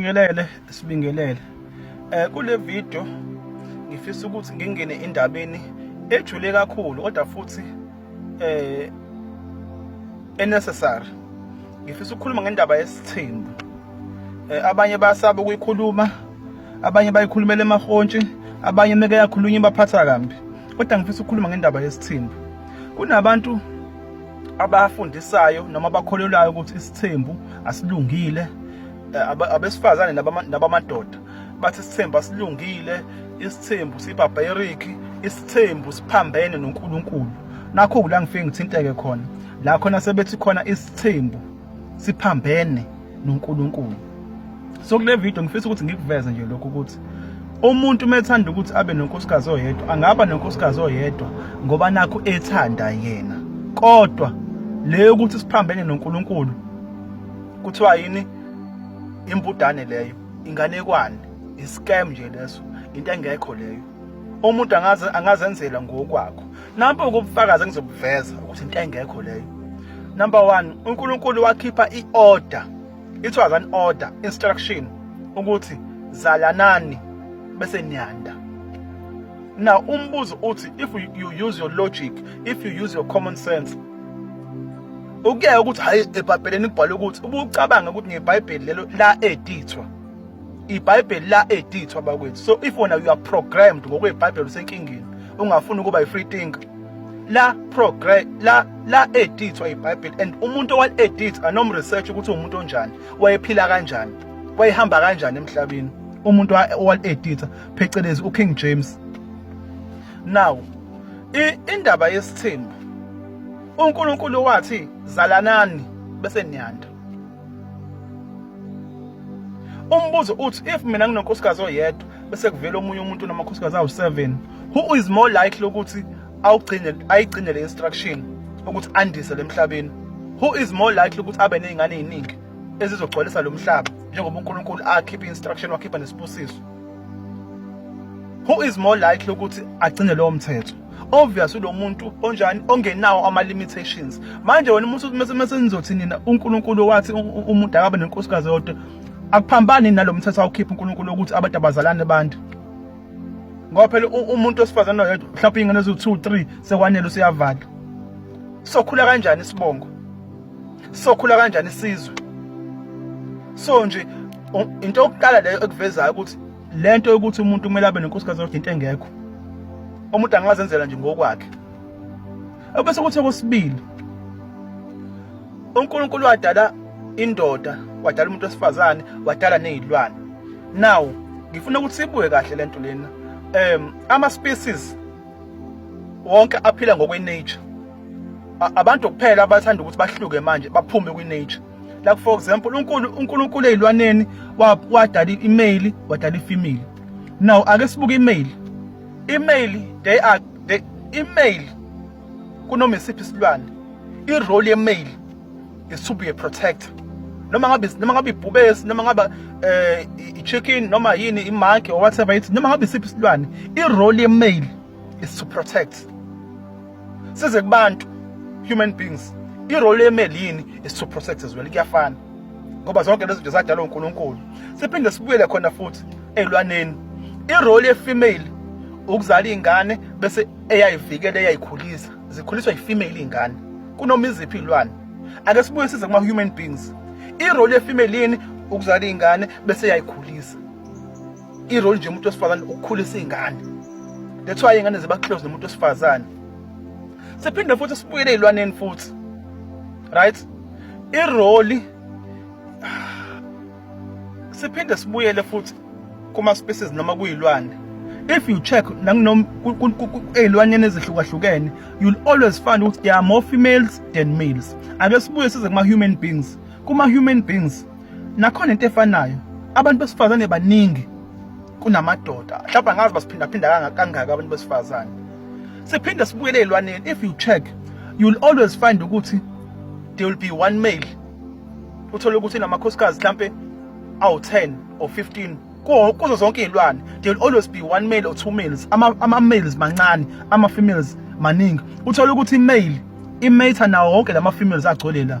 Sibingelele, sibingelele. Eh kule video ngifisa ukuthi ngingene endabeni ejule kakhulu kodwa futhi eh enecessary. Ngifisa ukukhuluma ngendaba yesithembu. Eh abanye basaba ukuyikhuluma, abanye bayikhulumela emahontshi, abanye meke yakhulunywa baphatha kambi. Kodwa ngifisa ukukhuluma ngendaba yesithembu. Kunabantu abafundisayo noma abakholelwayo ukuthi isithembu asilungile eh, abesifazane nabamadoda bathi isithembu asilungile isithembu sibarbaric isithembu siphambene noNkulunkulu nakho kula ngifike ngithinteke khona la khona sebethi khona isithembu siphambene noNkulunkulu so kule video ngifisa ukuthi ngikuveze nje lokho ukuthi umuntu uma ethanda ukuthi abe nonkosikazi oyedwa angaba nonkosikazi oyedwa ngoba nakho ethanda yena kodwa leyo ukuthi siphambene noNkulunkulu kuthiwa yini impudane leyo inganekwane iscam nje leso into engekho leyo umuntu angaze angazenzela ngokwakho nampo ukubufakaza ngizobuveza ukuthi into engekho leyo number 1 uNkulunkulu wakhipha iorder it was an order instruction ukuthi zalanani bese niyanda now umbuzo uthi if you use your logic if you use your common sense Ukuyeka ukuthi hayi ebhabheleni kubhalwe ukuthi ubucabanga ukuthi ngebhayibheli lelo la edithwa ibhayibheli la edithwa bakwethu so if wona you are programmed ngokwebhayibheli usenkingeni ungafuni ukuba yi-free thinker la progress la la edithwa ibhayibheli and umuntu owal-edith anomresearch ukuthi uwumuntu onjani wayephila kanjani wayehamba kanjani emhlabeni umuntu owal-editha phecelezi uking james now indaba yesithembu uNkulunkulu wathi zalanani bese niyanda umbuzo uthi if mina nginonkosikazi oyedwa bese kuvela omunye umuntu namakhosikazi awu-7 who is more likely ukuthi awugcine ayigcine le instruction ukuthi andise le mhlabeni who is more likely ukuthi abe ney'ngane ey'ningi ezizogcwalisa lo mhlaba njengoba unkulunkulu akhiphe i-instruction wakhipha nesibusiso who is more likely ukuthi agcine lowo mthetho obvious lo muntu onjani ongenawo ama limitations manje wena umuntu mase mase nizothi nina uNkulunkulu wathi umuntu akabe nenkosikazi yodwa akuphambani nalomthetho awukhipha uNkulunkulu ukuthi abantu abazalane abantu ngoba phela umuntu osifazana oyedwa mhlawumbe ingane eziwu 2 3 sekwanele usiyavala sokhula kanjani isibongo sokhula kanjani isizwe so nje into yokuqala leyo ekuvezayo ukuthi lento yokuthi umuntu kumele abe nenkosikazi yodwa into engekho umuntu angazenzela nje ngokwakhe ebese kuthi okwesibili uNkulunkulu wadala indoda wadala umuntu wesifazane wadala nezilwane now ngifuna ukuthi sibuye kahle lento lena um ama species wonke aphila ngokwe nature abantu kuphela abathanda ukuthi bahluke manje baphume kwi-nature like for example unkulu unkulunkulu ezilwaneni wadala i-male wadala i-female now ake sibuke i-male i-male they are they i-male kunoma isiphi isilwane i-role ye-male is to be a protector noma ngabe noma ngabe ibhubesi noma ngabe eh i-chicken noma yini i-monkey or whatever it noma ngabe isiphi isilwane i-role ye-male is to protect size kubantu human beings irole yemeli yini is to protect as well kuyafana ngoba zonke lezi zinto zadalwa uNkulunkulu siphinde sibuyele khona futhi elwaneni irole yefemale ukuzala ingane bese eyayivikela eyayikhulisa zikhuliswa yifemale ingane kunoma iziphi ilwane ake sibuye size kuma human beings irole yefemale yini ukuzala ingane bese eyayikhulisa i role nje umuntu wesifazane ukukhulisa izingane that's why ingane ziba close nomuntu wesifazane siphinde futhi sibuyele ezilwaneni futhi right i role siphinde sibuyele futhi kuma species noma kuyilwane if you check nanginom ezilwaneni ezihlukahlukene you'll always find ukuthi there are more females than males ake sibuye size kuma human beings kuma human beings nakhona into efanayo abantu besifazane baningi kunamadoda mhlawumbe angazi basiphindaphinda kangaka abantu besifazane siphinde sibuyele elwaneni if you check you'll always find ukuthi there will be one male uthole ukuthi namakhosikazi mhlampe awu 10 or 15 kuzo zonke izilwane there will always be one male or two males ama, ama males mancane ama females maningi uthole ukuthi male imatha nawo wonke lama females agcwele la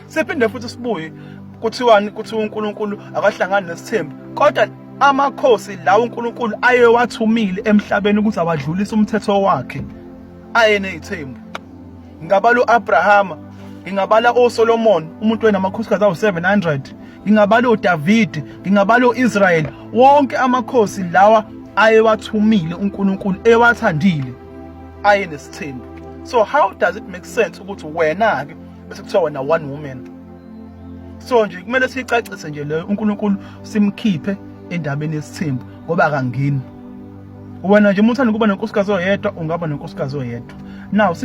Siphinde futhi sibuye kuthiwani kuthi uNkulunkulu akahlangani nesithembu kodwa amakhosi lawo uNkulunkulu ayewathumile emhlabeni ukuthi awadlulise umthetho wakhe ayene ithembu ngingabala uAbrahama ngingabala oSolomon umuntu wenamakhosikazi awu700 ngingabala uDavid ngingabala uIsrael wonke amakhosi lawa ayewathumile uNkulunkulu ewathandile ayenesithembu so how does it make sense ukuthi wena ke bese kuthiwa wena one woman so nje kumele siyicacise nje leyo uNkulunkulu simkhiphe endabeni yesithembu ngoba akangeni wena nje umuntu uthanda ukuba nenkosikazi oyedwa ungaba nenkosikazi oyedwa now